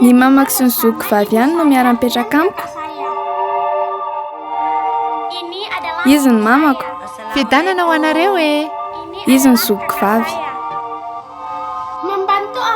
Ny mamako sy ny zoky vavy ihany no miara-mipetraka amiko. Izy ny mamako. Fidanana ho anareo e. Izy ny zoky vavy.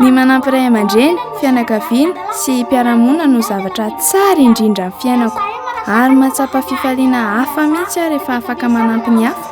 Ny manampy ray aman-dreny, fianakaviana sy mpiara-monina no zavatra tsara indrindra amin'ny fiainako. Ary mahatsapa fifaliana hafa mihitsy aho rehefa afaka manampy ny hafa.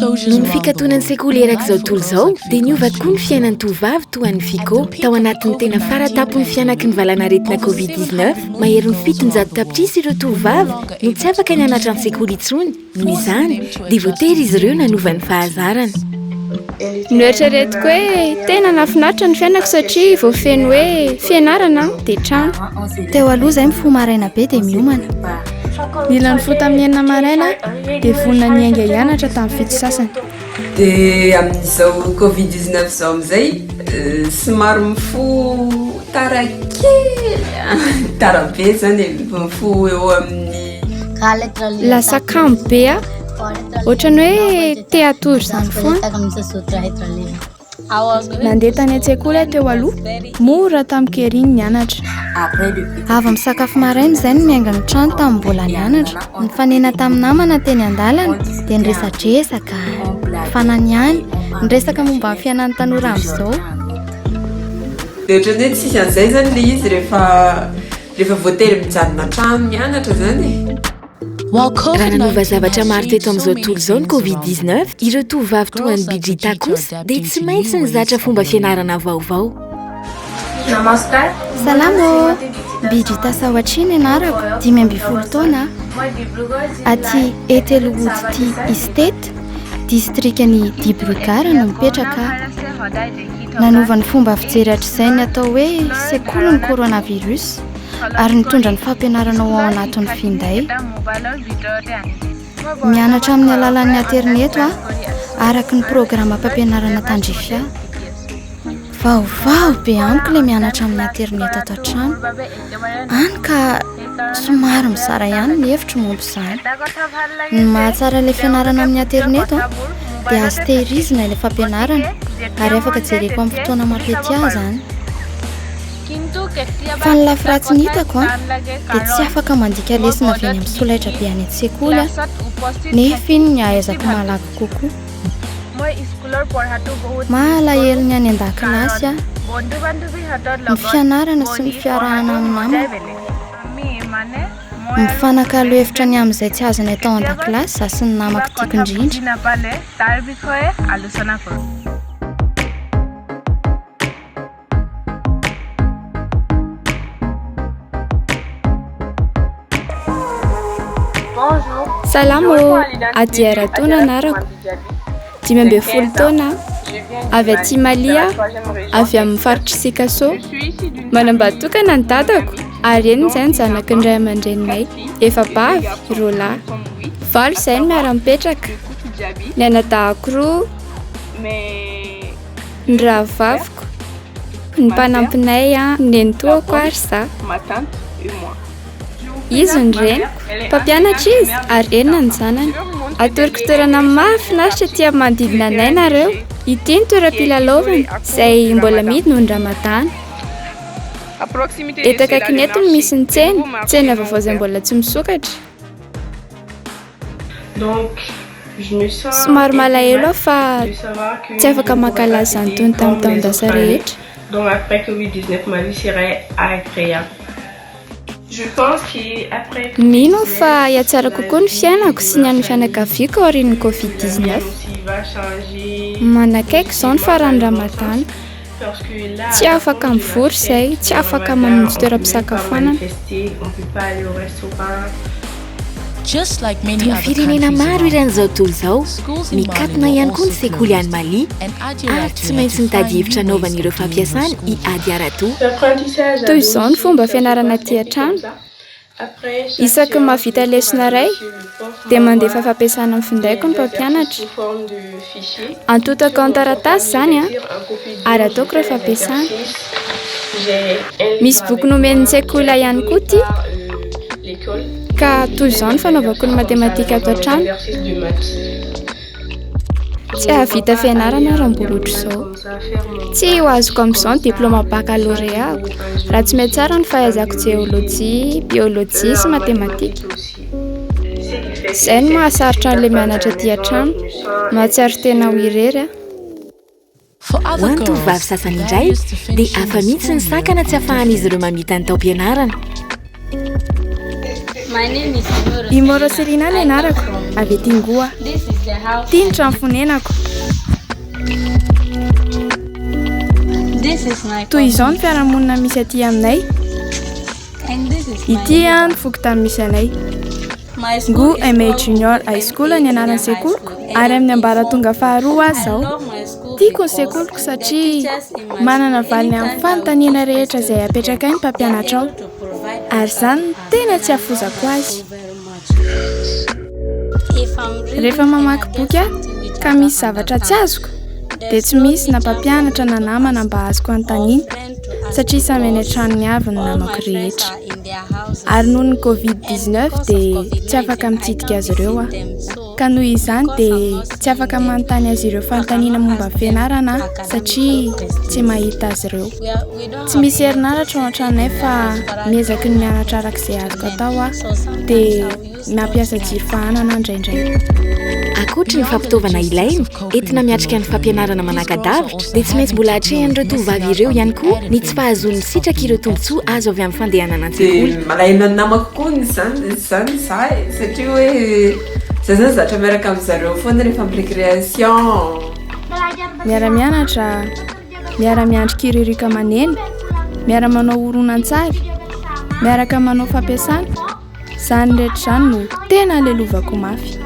Noho ny fikatonan'ny sekoly erak'izao tontolo izao dia niova tokoa ny fiainan'ny tovovavy toa an'i Fico. Tao anatin'ny tena faratapon'ny fianaky ny valanaretina Covid-19, maherin'ny fitonjato tapitrisa ireo tovovavy no tsy afaka nianatra an-tsekoly intsony. Noho izany, dia voatery izy ireo nanova ny fahazarany. Noeritreretiko hoe tena nahafinaritra ny fiainako satria voafeno hoe fianarana dia trano. Teo aloha izay mifoha maraina be dia miomana. Nila nifoha tamin'ny enina maraina dia vonona niainga hianatra tamin'ny fito sasany. Dia amin'izao covid 19 izao amin'izay somary mifo tara kely tara be izany e mifo eo amin'ny lasa kamo be a ohatran'ny hoe te hatory izany foana Nandeha tany an-tsekoly aho teo aloha, mora tamiko ery ny nianatra. Avy misakafo maraina izay no niainga ny trano tamin'ny mbola nianatra. Nifanena tamin'ny namana teny an-dalana dia niresadresaka, nifananiany, niresaka momba ny fiainan'ny tanora amin'izao. Dia ohatran'ny hoe tsisy an'izay izany ilay izy rehefa rehefa voatery mijanona an-trano mianatra izany e. Nanova zavatra maro teto amin'izao tontolo izao ny Covid 19, ireo tovovavy toa an'i Bidrita kosa dia tsy maintsy nizatra fomba fianarana vaovao. Namaskar. Salama ô! Bidrita Sawatri ny anarako, dimy ambin'ny folo taona aho. Aty Etelwood Tea Estate, distrikan'i Dibrugarh no mipetraka aho. Nanova ny fomba fijery hatrizay ny atao hoe sekolin'ny coronavirus. ary nitondra ny fampianarana ho ao anatin'ny finday. Mianatra amin'ny alalan'ny aterineto aho araka ny programa fampianarana tandrifia. Vaovao be amiko ilay mianatra amin'ny aterineto ato an-trano. Any ka somary mizara ihany ny hevitro momba izany. Ny mahatsara ilay fianarana amin'ny aterineto dia azo tehirizina ilay fampianarana ary afaka jereko amin'ny fotoana mampety ahy izany. Fa ny lafiratsiny hitako a, dia tsy afaka mandika lesona avy any amin'ny solaitra be any an-tsekoly aho, nefa iny ny ahaizako malaky kokoa. Maha alahelo ny any an-dakilasy aho, ny fianarana sy ny fiarahana amin'ny namako. Mifanakalo hevitra ny amin'izay tsy azonay tao an-dakilasy izaho sy ny namako tiako indrindra. Salama ô, Adia Ratoa no anarako, dimy ambin'ny folo taona aho, avy aty Mali aho, avy amin'ny faritr'i Sikasso. Manambady tokana ny dadako ary eny izay ny zanaky ny ray aman-dreninay, efabavy, roa lahy. Valo izay no miara-mipetraka, ny anadahako roa. ny rahavaviko, ny mpanampinay, ny nenitoako ary za. Izy ny reniko, mpampianatra izy ary enina ny zanany. Atoroko toerana mahafinaritra aty amin'ny manodidina anay nareo. Ity ny toeram-pilalaovana izay mbola amidy noho ny Ramadany. Eto akaikin'eto no misy ny tsena, tsena vaovao izay mbola tsy misokatra. Donc je me sens Somary malahelo aho fa tsy afaka mankalaza ny tony tamin'ny taon-dasa rehetra. Donc après covid 19 Marie serait agréable. Je pense que après covid 19 Mino aho fa hihatsara kokoa ny fiainako sy ny an'ny fianakaviako aorian'ny covid 19. Manakaiky izao ny faran'ny ramadany. Tsy afaka mivory izay, tsy afaka mamonjy toeram-pisakafoanana. Toy ny firenena maro eran'izao tontolo izao, mikatona ihany koa ny sekoly any Mali ary tsy maintsy mitady efitra anaovany ireo fampiasany i Ady Aratu. Toy izao ny fomba fianarana aty an-trano. Isaky ny mahavita lesona iray, dia mandefa fampiasana amin'ny findaiko ny mpampianatra. Antotako an-taratasy izany ary ataoko ireo fampiasana. Misy boky nomen'ny sekoly ahy ihany koa ity. Ka toy izao ny fanaovako ny matematika ato an-trano. Tsy hahavita fianarana raha mbola ohatr'izao. Tsy ho azoko amin'izao ny diplaoma bakaloreako raha tsy mihatsara ny fahaizako jeolojia, biolojia sy matematika. Izay no mahasarotra an'ilay mianatra aty an-trano, mahatsiaro tena ho irery aho. Ho an'ny tovovavy sasany indray, dia hafa mihitsy ny sakana tsy afahan'izy ireo mamita ny taom-pianarana. Imoro Selina no anarako, avy aty Ngoa. Ity ny trano fonenako. Toy izao ny fiarahamonina misy aty aminay. Ity ny foko tany misy anay. Ngo MA Junior High School ny anaran'ny sekoliko ary amin'ny ambaratonga faharoa aho Tiako ny sekoliko satria manana valiny amin'ny fanontaniana rehetra izay apetrakay ny mpampianatra ao ary izany no tena tsy hafozako azy. Rehefa mamaky boky aho ka misy zavatra tsy azoko dia tsy misy na mpampianatra na namana mba azoko anontaniana satria samy any an-tranony avy ny namako rehetra. Ary noho ny Covid-19 dia tsy afaka mitsidika azy ireo aho. Ka noho izany dia tsy afaka manontany azy ireo fanontaniana momba ny fianarana aho satria tsy mahita azy ireo. Tsy misy herinaratra ao an-tranonay fa miezaky ny mianatra araka izay azoko atao aho dia nampiasa jiro fahanana indraindray. Ankoatry ny fampitaovana ilaina, Entina miatrika ny fampianarana manaka-davitra, dia tsy maintsy mbola atrehan'ireo tovovavy ireo ihany koa ny tsy fahazoan'ny sitraky ireo tombontsoa azo avy amin'ny fandehanana an-tsekoly. Dia malaelo ny namako koa izany izany izaho e! satria hoe izaho izany zatra miaraka amin'ny zareo foana rehefa amin'ny récréation. Miara-mianatra, miara-miandry kiririoka aman'ela, miara-manao horonantsary, miaraka manao fampiasana, izany rehetra izany no tena lelova-ko mafy.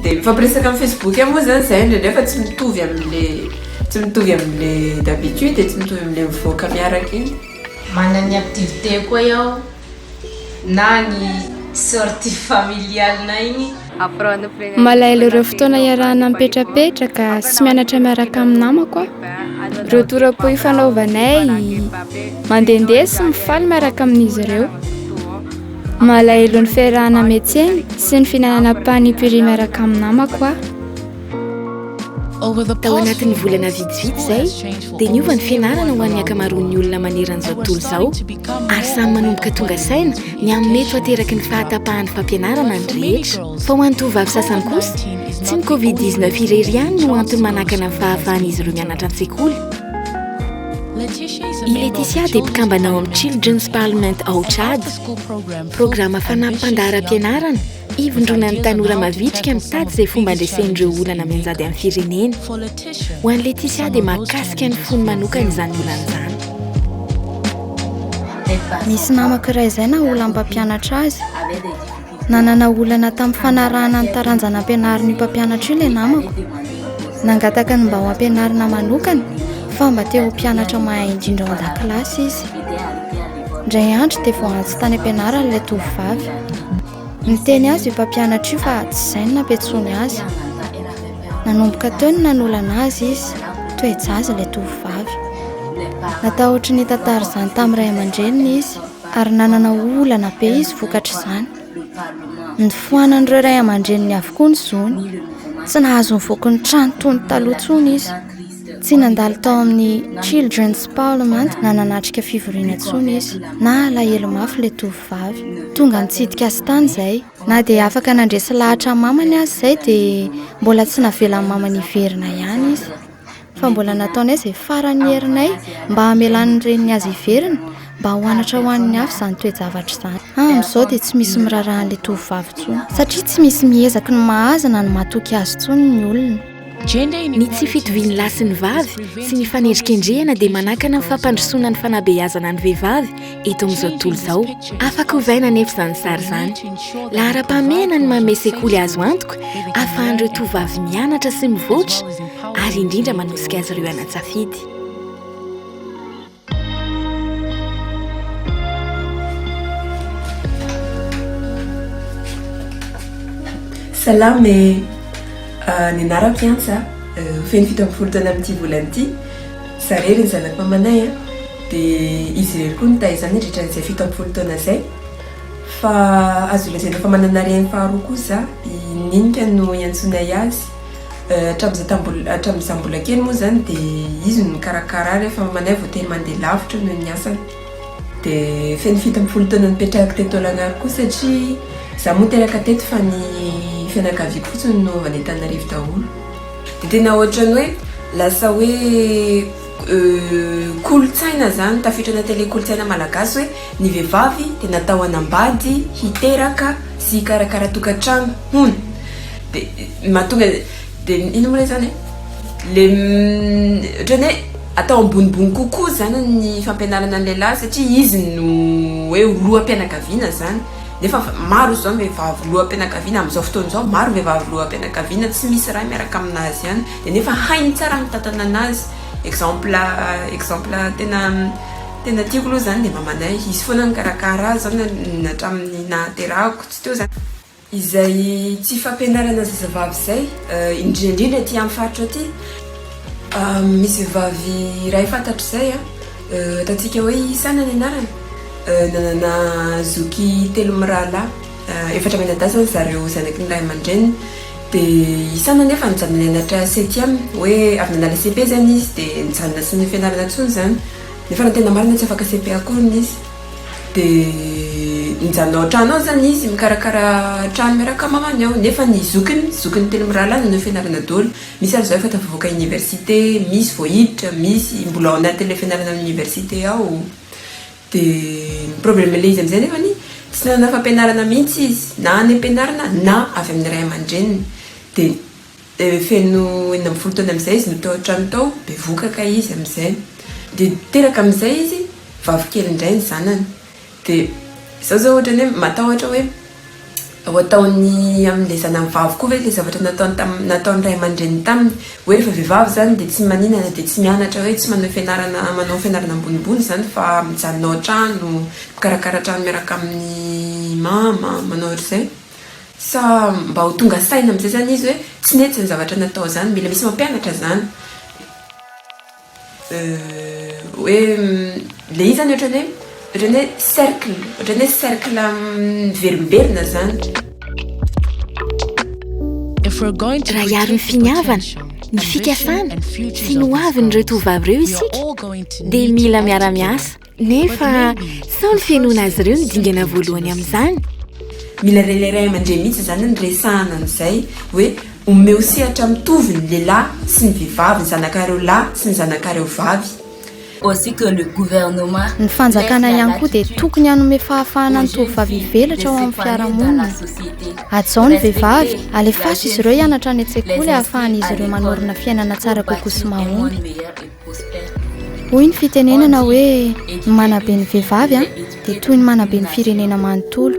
Dia mifampiresaka amin'ny facebook ihany moa izany izahay indraindray fa tsy mitovy amin'ilay tsy mitovy amin'ilay d'habitude e, tsy mitovy amin'ilay mivoaka miaraka iny. Manana ny activités koa iaho na ny sortie familiale-nay iny. Malahelo ireo fotoana iarahana mipetrapetraka sy mianatra miaraka amin'ny namako aho. Ireo tora-po ifanaovanay, mandehandeha sy mifaly miaraka amin'izy ireo. Malahelo ny fiarahana metseny sy ny fihinanana panipuri miaraka amin'ny namako aho. Tao anatin'ny volana vitsivitsy izay, dia niova ny fianarana ho an'ny ankamaroan'ny olona maneran'izao tontolo izao, ary samy manomboka tonga saina ny amin'ny mety ho ateraky ny fahatapahan'ny fampianarana ny rehetra. Fa ho an'ny tovovavy sasany kosa, tsy ny Covid-19 irery ihany no antony manakana ny fahafahan'izy ireo mianatra an-tsekoly. I Leticia dia mpikambana ao amin'ny Children's Parliament ao Tchad, programa fanampim-pandaharam-pianarana ivondronan'ny tanora mavitrika mitady izay fomba handresen'ireo olana mianjady amin'ny firenena. Ho an'i Leticia dia mahakasika ny fony manokana izany olana izany. Misy namako iray izay naha olana mpampianatra azy Nanana olana tamin'ny fanarahana ny taranja nampianarin'io mpampianatra io ilay namako. Nangataka ny mba ho ampianarina manokana fa mba te ho mpianatra mahay indrindra ao an-dakilasy izy. Indray andro dia voaantso tany am-pianarana ilay tovovavy. Niteny azy io mpampianatra io fa tsy izay ny nampiantsoany azy. Nanomboka teo no nanolana azy izy, toe-jaza ilay tovovavy. Natahotry ny hitantara izany tamin'ny ray aman-dreniny izy. ary nanana olana be izy vokatr'izany. Nifoanan'ireo ray aman-dreniny avokoa ny zony. Tsy nahazo nivoaka ny trano toy ny taloha intsony izy. Tsy nandalo tao amin'ny Children's Parliament na nanatrika fivoriana intsony izy. Nahalahelo mafy ilay tovovavy. Tonga nitsidika azy tany izay. Na dia afaka nandresy lahatra ny mamany aza izay dia mbola tsy navelan'ny mamany hiverina ihany izy. fa mbola nataonay izay faran'ny herinay mba hamelany ny reniny azy hiverina mba ho anatra ho an'ny hafa izany toe-javatra izany. Amin'izao dia tsy misy miraharaha an'ilay tovovavy intsony, satria tsy misy miezaky ny mahaza na ny matoky azy intsony ny olona. Ny tsy fitovian'ny lahy sy ny vavy sy ny fanendrikendrehana dia manakana ny fampandrosoana ny fanabeazana ny vehivavy, Eto amin'izao tontolo izao, afaka ovaina anefa izany sary izany. Laharam-pahamehana ny manome sekoly azo antoka ahafahan'ireo tovovavy mianatra sy mivoatra ary indrindra manosika azy ireo hanan-tsafidy. Salama e! Ny anarako Iantsa, feno fito ambin'ny folo taona amin'ity volana ity. Za rery ny zanak mamanay a dia izy rery koa nitahy za nandritra an'izay fito amby folo taona zay fa azo lazaina fa manana reny faharoa koa za i Ninika no iantsonay azy hatramin'izay tambola hatramin'ny za mbola kely moa zany dia izy no nikarakara ahy rehefa mamanay voatery mandeha lavitra noho ny asany dia feno fito amby folo taona nipetrahako teto Tolagnaro koa satria za moa teraka teto fa ny fianakaviako fotsiny no avy any Antananarivo daholo Dia tena ohatran'ny hoe lasa hoe kolontsaina izany, tafiditra anaty ilay kolontsaina malagasy hoe ny vehivavy dia natao hanambady, hiteraka sy hikarakara tokantrano, hono. Dia mahatonga, dia inona moa ilay izany e? Ilay ohatran'ny hoe atao ambonimbony kokoa izany ny fampianarana ny lehilahy satria izy no hoe ho loham-pianakaviana izany. Nefa maro izao ny vehivavy loham-pianakaviana amin'izao fotoana izao, maro ny vehivavy loham-pianakaviana tsy misy ray miaraka amin'azy ihany, dia nefa hainy tsara ny mitantana an'azy. Exemple exemple tena tena tiako aloha izany dia mamanay, izy foana nikarakara azy izao na na hatramin'ny nahaterahako tsy teo izany. Izay tsy fampianarana zazavavy izay, indrindra indrindra aty amin'ny faritra aty, misy vehivavy iray fantatro izay a. Ataontsika hoe i Sana ny anarany. Nanana zoky telo mirahalahy. Efatra mianadahy izany zareo zanaky ny ray aman-dreniny. Dia i Sana anefa nijanona nianatra septième. Hoe avy nanala CEP izany izy dia nijanona tsy nianarana intsony izany. Nefa raha ny tena marina tsy afaka CEP akory hono izy. Dia nijanona ao an-trano ao izany izy mikarakara trano miaraka amin'ny mamany ao. Nefa ny zokiny, zokiny telo mirahalahy nanao fianarana daholo. Misy ary izao efa tafavoaka université, misy vao hiditra, misy mbola ao anatin'ilay fianarana any université ao. Dia ny problème-n'ilay izy amin'izay anefany, tsy nanana fampianarana mihitsy izy, na any am-pianarana na avy amin'ny ray aman-dreniny. Dia feno enina ambin'ny folo taona amin'izay izy no tao an-trano tao, bevohoka kay izy amin'izay. Dia teraka amin'izay izy, vavy kely indray ny zanany. Dia izaho izao ohatrany hoe matahotra hoe ho ataon'ny amin'ilay zanany vavy koa ve ilay zavatra nataony tamin'ny, nataon'ny ray aman-dreniny taminy. Hoe rehefa vehivavy izany dia tsy maninana, dia tsy mianatra hoe tsy manao fianarana, manao fianarana ambonimbony izany fa mijanona ao an-trano, mikarakara trano miaraka amin'i mama, manao ohatr'izay. Sa mba ho tonga saina amin'izay izany izy hoe tsy nety izany zavatra natao izany. Mila misy mampianatra izany. Hoe le izy zany ohatrany hoe ohatrany hoe cercle ohatrany hoe cercle miverimberina zany. Raha hiaro ny finiavana, ny fikasana sy ny hoavin'ireo tovovavy ireo isika dia mila miara-miasa. Nefa sao ny fihenoana azy ireo no dingana voalohany amin'izany? Mila ren'ilay ray aman-dreny mihitsy izany ny resahana an'izay hoe omeo sehatra mitovy ny lehilahy sy ny vehivavy, ny zanakareo lahy sy ny zanakareo vavy. Ny fanjakana ihany koa dia tokony hanome fahafahana ny tovovavy hivelatra ao amin'ny fiarahamonina. Hajao ny vehivavy, alefaso izy ireo hianatra any an-tsekoly ahafahan'izy ireo manorina fiainana tsara kokoa sy mahomby. Hoy ny fitenenana hoe ny manabe ny vehivavy dia toy ny manabe ny firenena manontolo.